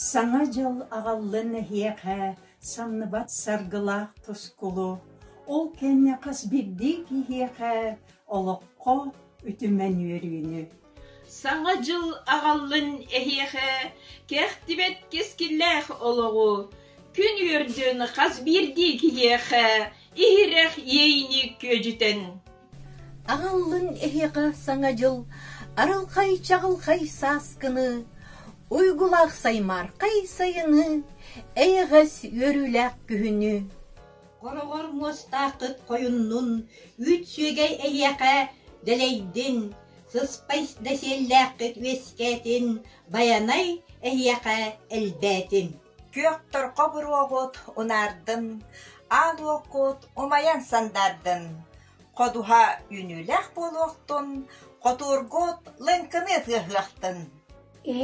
Саҥа дьыл аҕаллын эһиэхэ самныбат саргылаах тускулу, ол кэннэ хас биирдии киһиэхэ олоххо үтүмэн үөрүүнү. Саҥа дьыл аҕаллын эһиэхэ кэхтибэт кэскиллээх олоҕу, күн үөрдүн хас биирдии киһиэхэ иһирэх иэйиини күөдьүтэн. Аҕаллын эһиэхэ Саҥа дьыл арылхай-чаҕылхай сааскыны, уйгулаах саймаархай сайыны, эйэҕэс үөрүүлээх күһүнү! Хороҕор муостааххыт хойуннун, үүт сүөгэй эйиэхэ дэлэйдин, сыспай дэсиэллээххит үөскээтин, байанай эһиэхэ элбээтин! Күөхтөрхө буруоҕут унаардын, аал уоккут умайан сандаардын, ходуһа үүнүүлээх буолуохтун, хотуургут лыҥкыныы тыаһыахтын.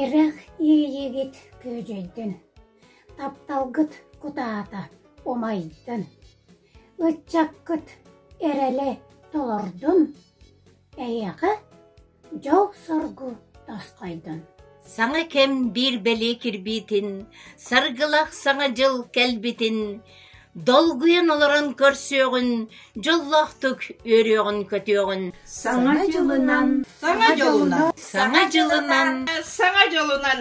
Эрэх иэйигит күөдьэйдин, тапталгыт кутаата умайдын, ыччаккыт эрэлэ толордун. Эйиэхэ дьол-соргу тосхойдун! Саҥа кэм биир бэлиэ кирбиитин, Саргылах Саҥа дьыл кэлбитин Долгуйан олорон көрсүөҕүн, Дьоллоохтук үөрүөҕүн-көтүөҕүн. Саҥа дьылынан, саҥа дьылынан, саҥа дьылынан, саҥа дьылынан.